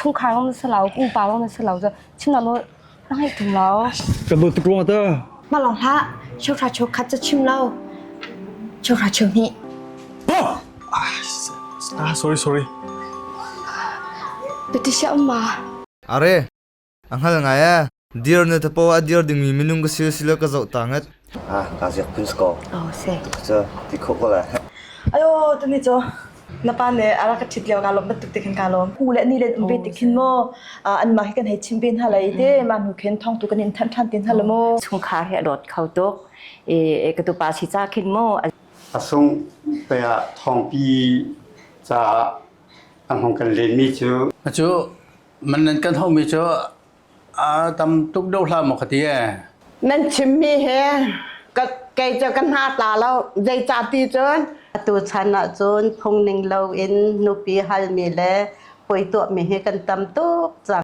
chungkhar ram na si lo, pumpa ram na si lo cu chimnak nawl na ngeih ṭung lo. Kan luat tuk rua ta. Mah lawng hlah, cheuhra cheu khat ca chim lo. Cheuhra cheu hnih. Ah, sorry, sorry. Biati si um ma? Are, A hngal ngai e, dir na tapaw a dir dingmi minung ka si si le ka zoh ta nget. Ah, ka ziak pun sko. Oh, se. Cu, ti kho ko le. Ayo, tuni cho. Na pa ne ara ka thit leo ka lom batuk te khan ka lom. Ku le ni len umbe te khin mo. An ma hi kan hei chim bin hala ite. Ma nu khen thong tu kan in than than tin hala mo. Chungkhar he lot kho tuk. E, e ka tu pa si cha khin mo. A sung pe a thongpi ca a hong kan len mi cu. Acu, Man nan kan hauhmi cu aa tam tuk deuh hlah maw ka ti ee. Nan chimmi hi ka kei cu ka hna tla lo. Zeicah ti cun atu chan ah cun phungning loin nupi halmi le puai tuahmi hi kan tam tuk cang.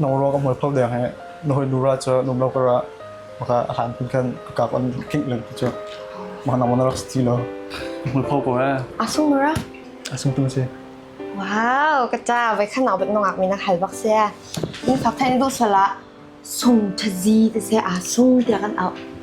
na rawk a mual kho leng hi na hawilura cu num lo kar ah maka a hlan pin khan ka kap an khing leng cu cu mana mana rak sti lo mual pho ko eh asung ra asung tu si wow ka cha vai khana bat nongak mi na khal bak se in fa phen du sala sung thazi te se asung te kan au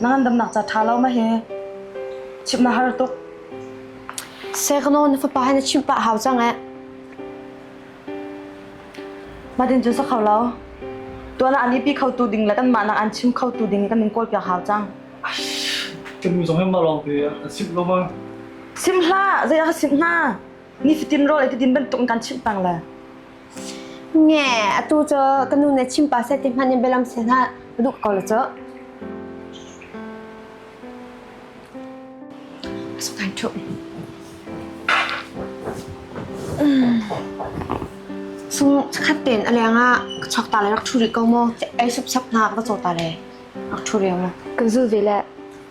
na ngandamnak ca ṭha lo ma hi chimh na har tuk Sekno na fapa hi na chimh pah hau cang eh madin cu sak hau lo tuana an ipi kho tu ding le kan mah nak an chim kho tu ding kan in kawl piak hau cang kan mi zong hem na lawng te a sim lo ma sim hla zei a sim hna ni fitin rol e tidin ban tung kan chim pang le Nge, atu cu ka nu nih chim pa seh ti hmanh in bialam seh hlah, ka duh ko lo cu. So kein tun. Sung khat ten aleng a chok ta le rak thu ri ko mo, ei sup sap na ka cho ta le, rak thu ri mo. Ka zu ve le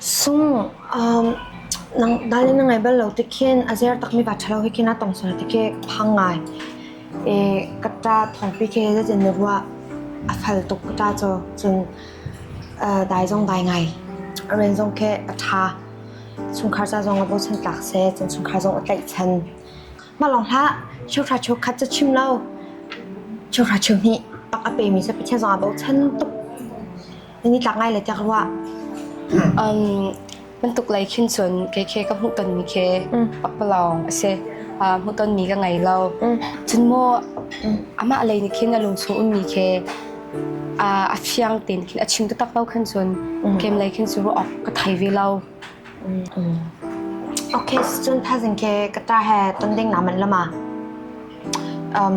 Sung dal na ngai bal lo ti khin a zer takmi va ṭhalo hi khin a tong sual ti khi ka phang ngai. I ka ṭa thawngpi khi zazin na ruah a fal tuk ka ṭa caw. Cun dai zong dai ngai. A men zong khi a ṭha. Chungkhar ca zong a bochan tlak seh. Cun chungkhar zong a tlaihchan. Mah lawng hlah chungkhar cheu khat cu chim lo. Chungkhar cheu hnih pak a pemi cu Pathian zong a bochan tuk. Ni tlak ngai le tiak rua. Um, bantuk lai khin chun ke ke ka hmuh ton mi ke papalong ase hmuh ton mi ka ngai lo chun mo ama lei ni khin a lung chu un mi ke a fiang ten khin a chim tu tak lo khan chun kem lai khin chu ok ka thai ve lo Okay, chun thazin ke kata he ton ding naman lama um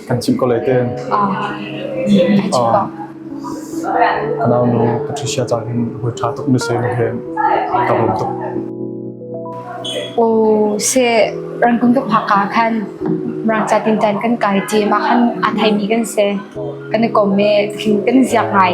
Kan chimh ko lai ten. Ai chim ko. Ka nau nu Patricia cang hin hui tha tuk mi se he ka bom tuk. Oh se rangkung tuk phaka khan rangca tin tan kan kai ti ma khan athai mi kan se kan kom me king kan ziak ngai.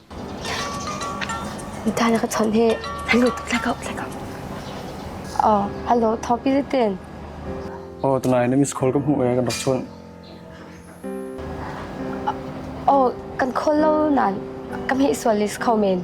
Mitha na ka chawnh hi. Hello, flag out, flag out. Oh, hello, Topi Zitin. Oh, tunai na miss call ka hmu eh, kan rak chuan. Oh, kan call lo nan. Kam hi sual list kau men.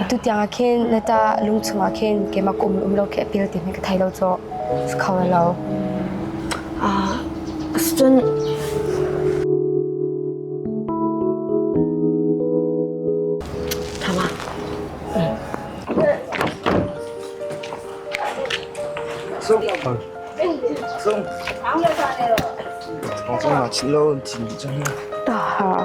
Atu tiang ah khin na ta lungchung ah khin keimah kum um lo khi a pil ti hme ka thei lo caw si kho lo. Ah, cun Tama. Sung. Sung. Aku nak cilo cin cang. Dah.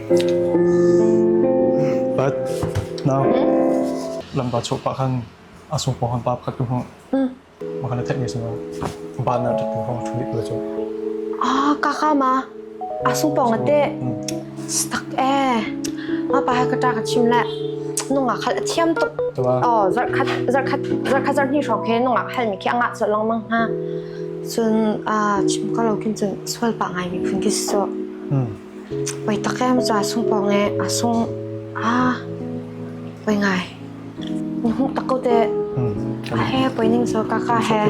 But lampa chawh pah khan a sung pawng khan pa pakhat tu hmang maka na theih singa ba na tak tu hmang thu dik tu ah kaka ma a sung pawng ate stak e ma pa ha kata ka chim la nunga khal a thiam tuk oh zar khat zar khat zar khat zar ni shok he nunga khal mi ki anga so long mang ha cun a chim ka lo kin cun sual pa ngai mi phun ki so Oi tak em cu a sung pawng ee. A sung. Aa. Oi ngai. Na hmuh tak ko teh. A he poi ning so kaka he.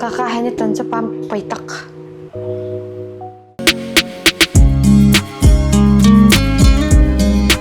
Kaka he ni ton cu pam poi tak.